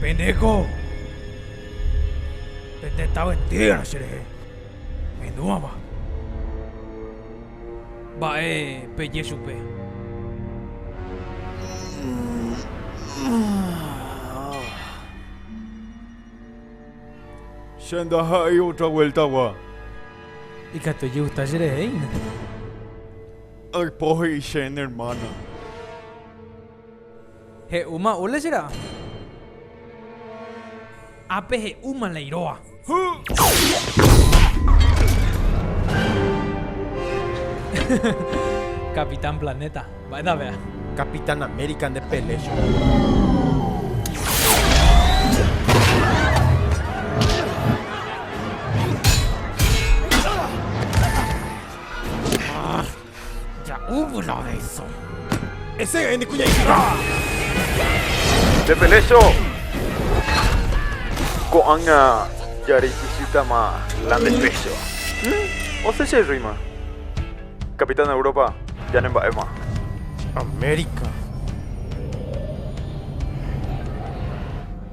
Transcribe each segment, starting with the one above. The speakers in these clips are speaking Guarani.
Peneko pe tetã entera cherehe menúava. Mba'e peje chupe. Che ndaha'éi otra vuelta-gua. Ikatu ejegusta cherehe hína. Aipo he'i che ne hermana. He'úma ule che ra'a. Ápe he'úma la iroa. Capitán Planeta. Mba'éta vea. Capitán América nde pele chugui. Ah, ja'úvo la oveso. Ese ene kuñaiki. Te peleso. Ko'anga jareikisítama la nde peso. Hmm? Ose che rima. Capitán Europa, ya ne mba'éma. América.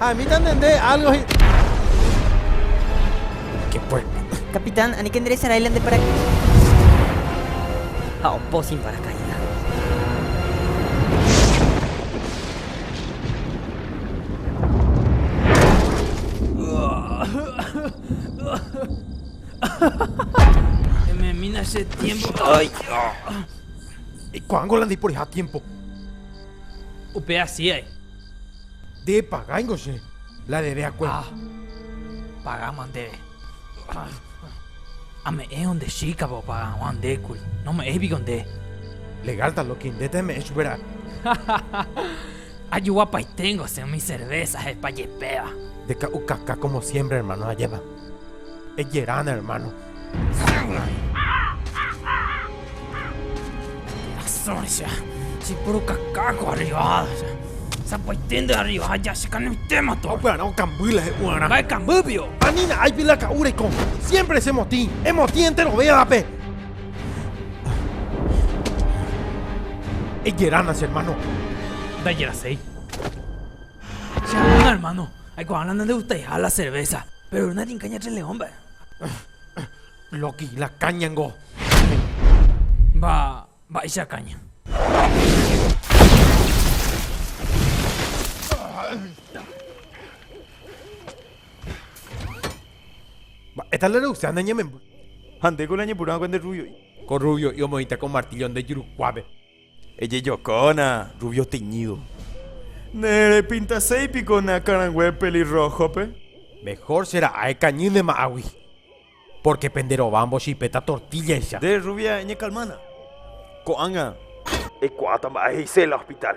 Ha emíta nde nde álgo hi... Ke puerta. Capitán, aníke nderecharáila nde paracaídas. Ha opo sin paracaídas. Me mina ese tiempo. Ay, ah. ¿Y cuándo la di por ese tiempo? Upea sí hay. Nde pagáingo che, la rere akue. Ha pagáma ndéve. Ame'ẽvo nde chíkapa opaga hag̃ua nde kuri. Nome'ẽi piko nde. Legal ta loki, ndéta eme'ẽ chupe ra'e. Ajoguapaiténgo che umi cervésa hepa jepéva. Ndeka'ukaka como siempre, hermano, ajépa. Ejeránda, hermano. Asóncha, che purukaka ko arriba, sapy'aite nde arriba ha ja chekanoitéma torre. Opearã okamby la he'u'arã. Mba'e kambýpio! Ani na'áipi la ka'u reiko, siémpre che motĩ, emotĩ enterovévape. Ejerána che ermáno. Ndajeraséi. Che anína ermáno, aikuaána nandegustaiha la cervésa, péro ermáno ninka ñatreleõ mba'e. Loki, la caña ngo. Mba, mba'éicha caña. Mba'éta la reusea ne ñememby. Ha ndéko la ñepyrũakue nde rrubio'i. Ko rrubio'i omoĩta ko martillo nde jurukuápe. Ejejokóna rubio teñído. Ne repintaséi piko ne akãrangue pelirróhope? Mehór che ra'ái kañy ne ma'agui, pórke pende rova mbochipeta tortíllaicha. Nde rruvia ñekalmána ko'ág̃a. Eikuaáta mba'e he'ise la hospitál.